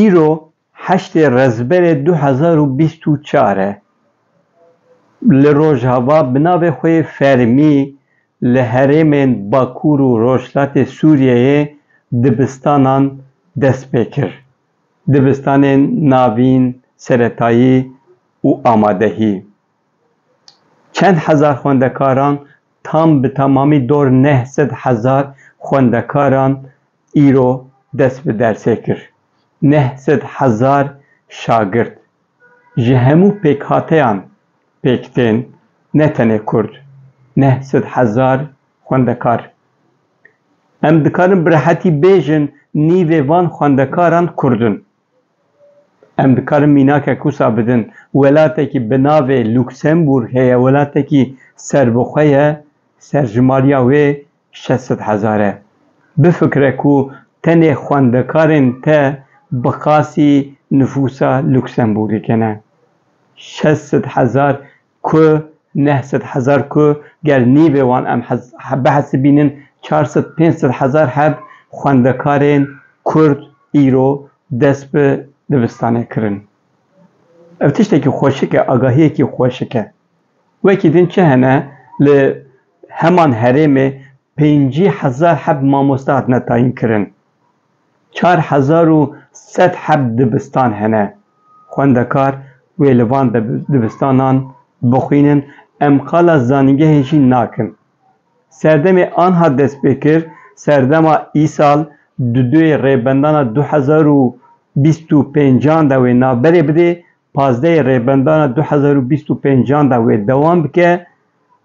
Îro heştê Rezberê du hezar û bîst û çar e. Li Rojava bi navê xwe yê fermî li herêmên Bakur û Rojhilatê Sûriyeyê dibistanan dest pê kir. Dibistanên navîn, seretayî û amadehî. Çend hezar xwendekaran tam bi tamamî dor neh sed hezar xwendekaran îro dest bi dersê kir. Neh sed hezar şagirt ji hemû pêkhateyan pêk tên ne tenê kurd neh sed hezar xwendekar. Em dikarin bi rehetî bêjin nîvê van xwendekaran kurd in. Em dikarin mînakek wisa bidin. Welatekî bi navê Luksemburg heye, welatekî serbixwe ye, serjimariya wê şeş sed hezar e. Bifikire ku tenê xwendekarên te bi qasî nifûsa Luksemburgê kene. Şeş sed hezar Ku neh sed hezar ku gel nîvê wan em bihesibînin çar sed pênc sed hezar heb xwendekarên Kurd îro dest bi dibistanê kirin. Ev tiştekî xweşik e, agahiyekî xweşik e. Wekî din çi hene li heman herêmê pêncî hezar heb mamoste hatine tayînkirin. Çar hezar û sed heb dibistan hene. Xwendekar wê li van dibistanan bixwînin, em qala zanîngehê jî nakin. Serdemê anha dest pê kir, serdema îsal di duyê rêbendana du hezar û bîst û pêncan de wê navberê bidê, pazdeyê rêbendana du hezar û bîst û pêncan de wê dewam bike,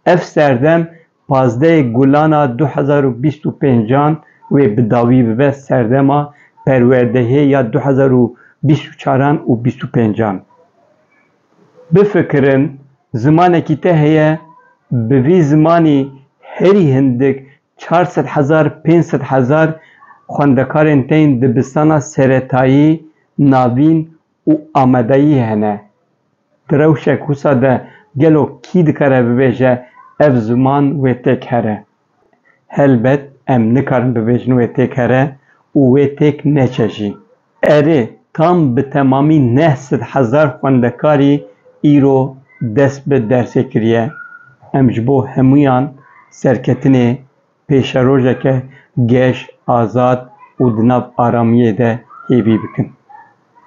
ev serdem Pazdehê Gulan a du hezar û bîst û pênc an wê bi dawî bibe serdema perwerdehê ya du hezar û bîst û çar an û bîst û pênc an. Bifikirin, zimanekî te heye, bi vî zimanî herî hindik çar sed hezar, pênc sed hezar xwendekarên tên dibistana seretayî, navîn û amadeyî hene. Di rewşek wisa de gelo kî dikare bibêje ev ziman wê têk here? Helbet em nikarin bibêjin wê têk here û wê têk neçe jî. Erê, tam bi temamî neh sed hezar xwendekarî îro dest bi dersê kiriye. Em ji bo hemûyan serketinê pêşerojeke geş, azad û di nav aramiyê de hêvî bikin.